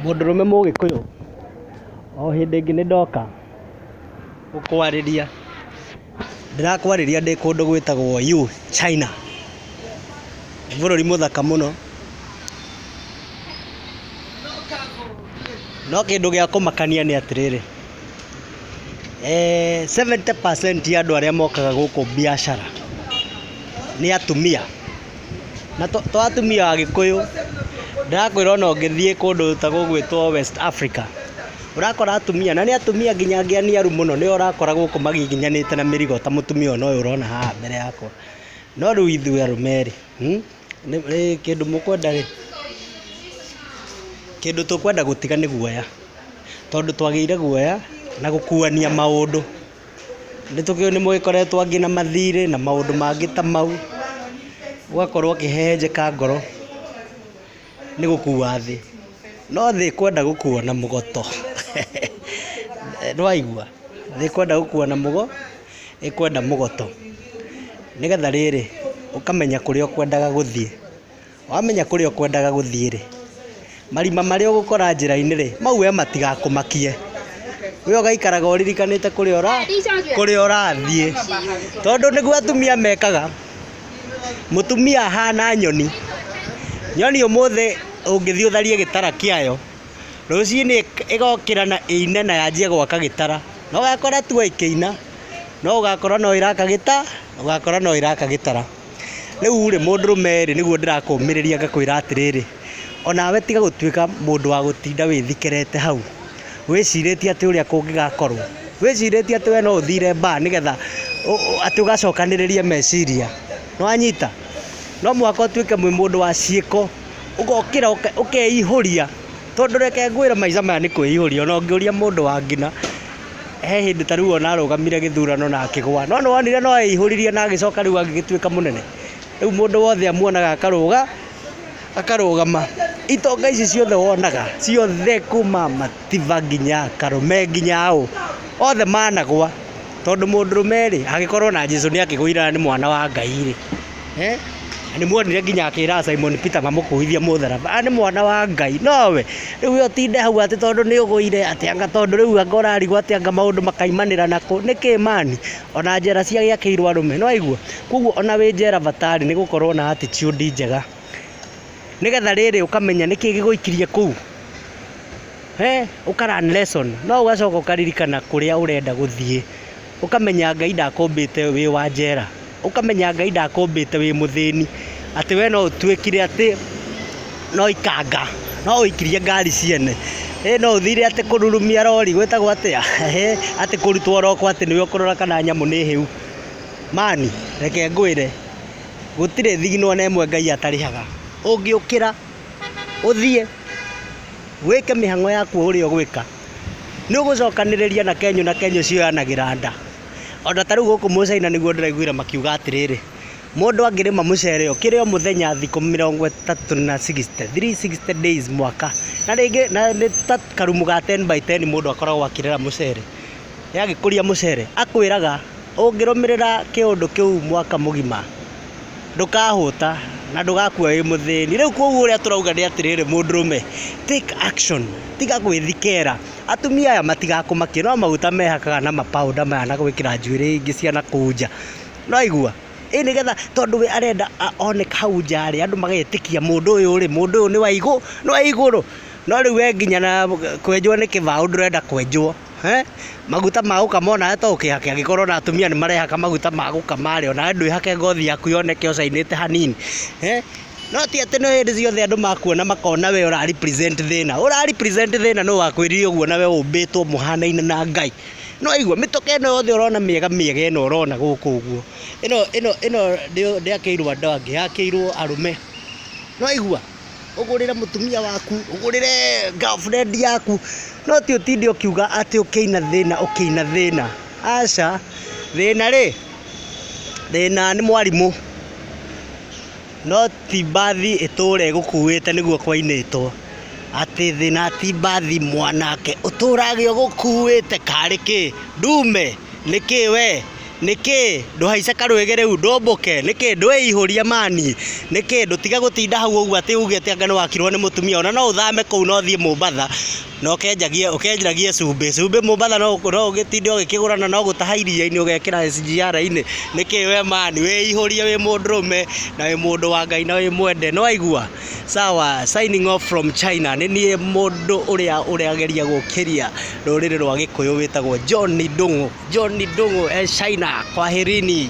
Mũndũrũme mũgĩkũyũ, o hĩndĩ ĩngĩ nĩndoka gũkwarĩria. Ndĩrakwarĩria ndĩ kũndũ gwĩtagwo Yu, China. Nĩ bũrũri mũthaka mũno. No kĩndũ gĩa kũmakania nĩ atĩrĩrĩ, seventy percent ya andũ arĩa mokaga gũkũ mbiacara nĩ atumia. Na to atumia agĩkũyũ, ndĩrakwĩra ona ũngĩthiĩ kũndũ ta gũgwĩtwo West Africa, ũrakora atumia, na nĩ atumia nginya angĩ aniaru mũno, nĩo ũrakora gũkũ magiginyanĩte na mĩrigo ta mũtumia ũyũ noyũ ũrona haha mbere yakwa. No rĩu ithuĩ arũme rĩ, kĩndũ mũkwenda rĩ, kĩndũ tũkwenda gũtiga nĩ guoya, tondũ twagĩire guoya na gũkuania maũndũ. Nĩ tũkĩũĩ nĩ mũgĩkoretwo angĩ na mathirĩ na maũndũ mangĩ ta mau, ũgakorwo ũkĩhehenjeka ngoro nĩ gũkua thĩ. No thĩ ĩkwenda gũkuo na mũgoto. Nĩwaigua? Thĩ ĩkwenda gũkuo na mũgo, ĩkwenda mũgoto. Nĩgetha rĩrĩ, ũkamenya kũrĩa ũkwendaga gũthiĩ. Wamenya kũrĩa ũkwendaga gũthiĩ-rĩ, marima marĩa ũgũkora njĩra-inĩ-rĩ, mau we matigakũmakie. We ũgaikaraga ũririkanĩte kũrĩa ũra, kũrĩa ũrathiĩ. Tondũ nĩguo atumia mekaga. Mũtumia ahana nyoni. Nyoni ũmũthĩ ũngĩthiĩ ũtharie gĩtara kĩayo, rũcinĩ ĩgokĩra na ĩine na yanjie gwaka gĩtara. Na ũgakora tu o ĩkĩina, no ũgakora no ĩraka gĩta, ũgakora no ĩraka gĩtara. Rĩu rĩ mũndũrũme rĩ nĩguo ndĩrakũmĩrĩria ngakwĩra atĩrĩrĩ, onawe tiga gũtuĩka mũndũ wa gũtinda wĩthikerete hau, wĩcirĩtie atĩ ũrĩa kũngĩgakorwo, wĩcirĩtie atĩ we no ũthire bar nĩgetha atĩ ũgacokanĩrĩrie meciria, nĩ wanyita? No mũhaka ũtuĩke wĩ mũndũ wa ciĩko, ũgokĩra ũkeihũria, tondũ reke ngwĩre maica maya nĩ kwĩihũria, ona ũngĩũria mũndũ wa ngina. he hĩndĩ ta rĩu ona arũgamire gĩthurano na akĩgwa, no nĩwonire no eihũririe na agĩcoka rĩu agĩgĩtuĩka mũnene, rĩu mũndũ wothe amuonaga akarũga, akarũgama, itonga ici ciothe wonaga, ciothe kuma Matiba nginya Karume nginya ũ, othe managwa, tondũ mũndũrũme rĩ, angĩkorwo na Jesũ nĩakĩgũire na nĩ mwana wa Ngai rĩ. Na nĩmuonire nginya akĩra Simon Peter mamũkuithie mũtharaba. Aya nĩ mwana wa Ngai. No we, rĩu we ũtinde hau atĩ tondũ nĩ ũgũire, atĩ anga tondũ rĩu anga ũrarigwo atĩ anga maũndũ makaimanĩra nakũ. Nĩkĩ man? Ona njera cia gĩakĩirwo arũme. Nĩwaigua? Kũguo ona wĩ njera bata rĩ, nĩ gũkorwo na attitude njega. Nĩgetha rĩrĩ ũkamenya nĩkĩ gĩgũikirie kũu. Ũka learn lesson. No ũgacoka ũkaririkana kũrĩa ũrenda gũthiĩ. Ũkamenya Ngai ndakũmbĩte wĩ wa njera. Ũkamenya Ngai ndakũmbĩte wĩ mũthĩni. Atĩ we no ũtuĩkire atĩ no ikanga, no ũikirie ngari ciene. Ĩĩ no ũthire atĩ kũrurumia rori, gwĩtagwo atĩa? Ehe, atĩ kũrutwo ũroko atĩ nĩwe ũkũrora kana nyamũ nĩ hĩu. Man, reke ngwĩre, gũtirĩ thigino ona ĩmwe Ngai atarĩhaga. Ũngĩũkĩra, ũthiĩ, wĩke mĩhang'o yaku o ũrĩa ũgwĩka. Nĩũgũcokanĩrĩria na kenyũ na kenyũ cioyanagĩra nda. Ona ta rĩu gũkũ mũcaina nĩguo ndĩraiguire makiuga atĩrĩrĩ, mũndũ angĩrĩma mũcere ũkĩre o mũthenya thikũ mĩrongo ĩtatũ na sixty, three sixty days mwaka, na rĩngĩ na nĩ ta karumu ga ten by ten mũndũ akoragwo akĩrera mũcere, agĩkũria mũcere, akwĩraga ũngĩrũmĩrĩra kĩũndũ kĩu mwaka mũgima, ndũkahũta na ndũgakua wĩ mũthĩni. Rĩu koguo ũrĩa tũrauga nĩ atĩrĩrĩ, mũndũrũme take action, tiga gwĩthikĩra. Atumia aya matigakũmakie, no maguta mehakaga na ma powder maya na gwĩkĩra njuĩrĩ ingĩ cia na kũu nja. Nĩ waigua? Ĩ nĩ getha tondũ we arenda oneka hau nja rĩ, andũ magetĩkia mũndũ ũyũ rĩ, mũndũ ũyũ nĩ wa igũrũ. No rĩu we nginya kwenjwo nĩ kĩbaũ ndũrenda kwenjwo. Maguta ma gũkama onawe to ũkĩhake angĩkorwo ona atumia nĩ marehaka maguta ma gũkama rĩ, onawe ndwĩhake ngothi yaku yoneke ũcainĩte hanini. No ti atĩ nĩ hĩndĩ ciothe andũ makuona makona we ũra represent thĩna. Ũra represent thĩna nũ wakwĩrire ũguo nawe ũmbĩtwo mũhanaine na Ngai. Nĩ waigua? Mĩtũkĩ ĩno yothe ũrona mĩega mĩega ĩno ũrona gũkũ ũguo, ĩno ndĩakĩirwo andũ angĩ yakĩirwo arũme. Nĩ waigua? ũgũrĩre mũtumia waku, ũgũrĩre girlfriend yaku, no ti ũtinde ũkiuga atĩ ũkĩina thĩna ũkĩina thĩna. Aca, thĩna rĩ, thĩna nĩ mwarimũ, no ti mbathi ĩtũre ĩgũkuĩte nĩguo kwainĩtwo. Atĩ thĩna ti mbathi mwanake ũtũrage ũgũkuĩte karĩ kĩ? Ndume? Nĩkĩ wee? nĩkĩĩ? Ndũhaice karwĩgĩ rĩu, ndũmbũke, nĩkĩĩ? Ndwĩihũrie mani, nĩkĩĩ? Ndũtige gũtinda hau ũguo atĩ uge atĩ anga nĩ wakirwo nĩ mũtumia, ona no ũthame kũu na ũthiĩ Mombatha, na ũkenjagie ũkenjagie cumbĩ. Cumbĩ Mombatha no no ũgĩtinde ũgĩkĩgũra na no gũtaha iria-inĩ ũgekĩra SGR-inĩ. Nĩkĩĩ we mani? Wĩihũrie wĩ mũndũrũme, na wĩ mũndũ wa Ngai na wĩ mwende. Nĩ waigua? Sawa, signing off from China. Nĩ niĩ mũndũ ũrĩa ũrageria gũkĩria rũrĩrĩ rwa Gĩkũyũ wĩtagwo John Ndung'u. John Ndung'u e China. Kwaherini.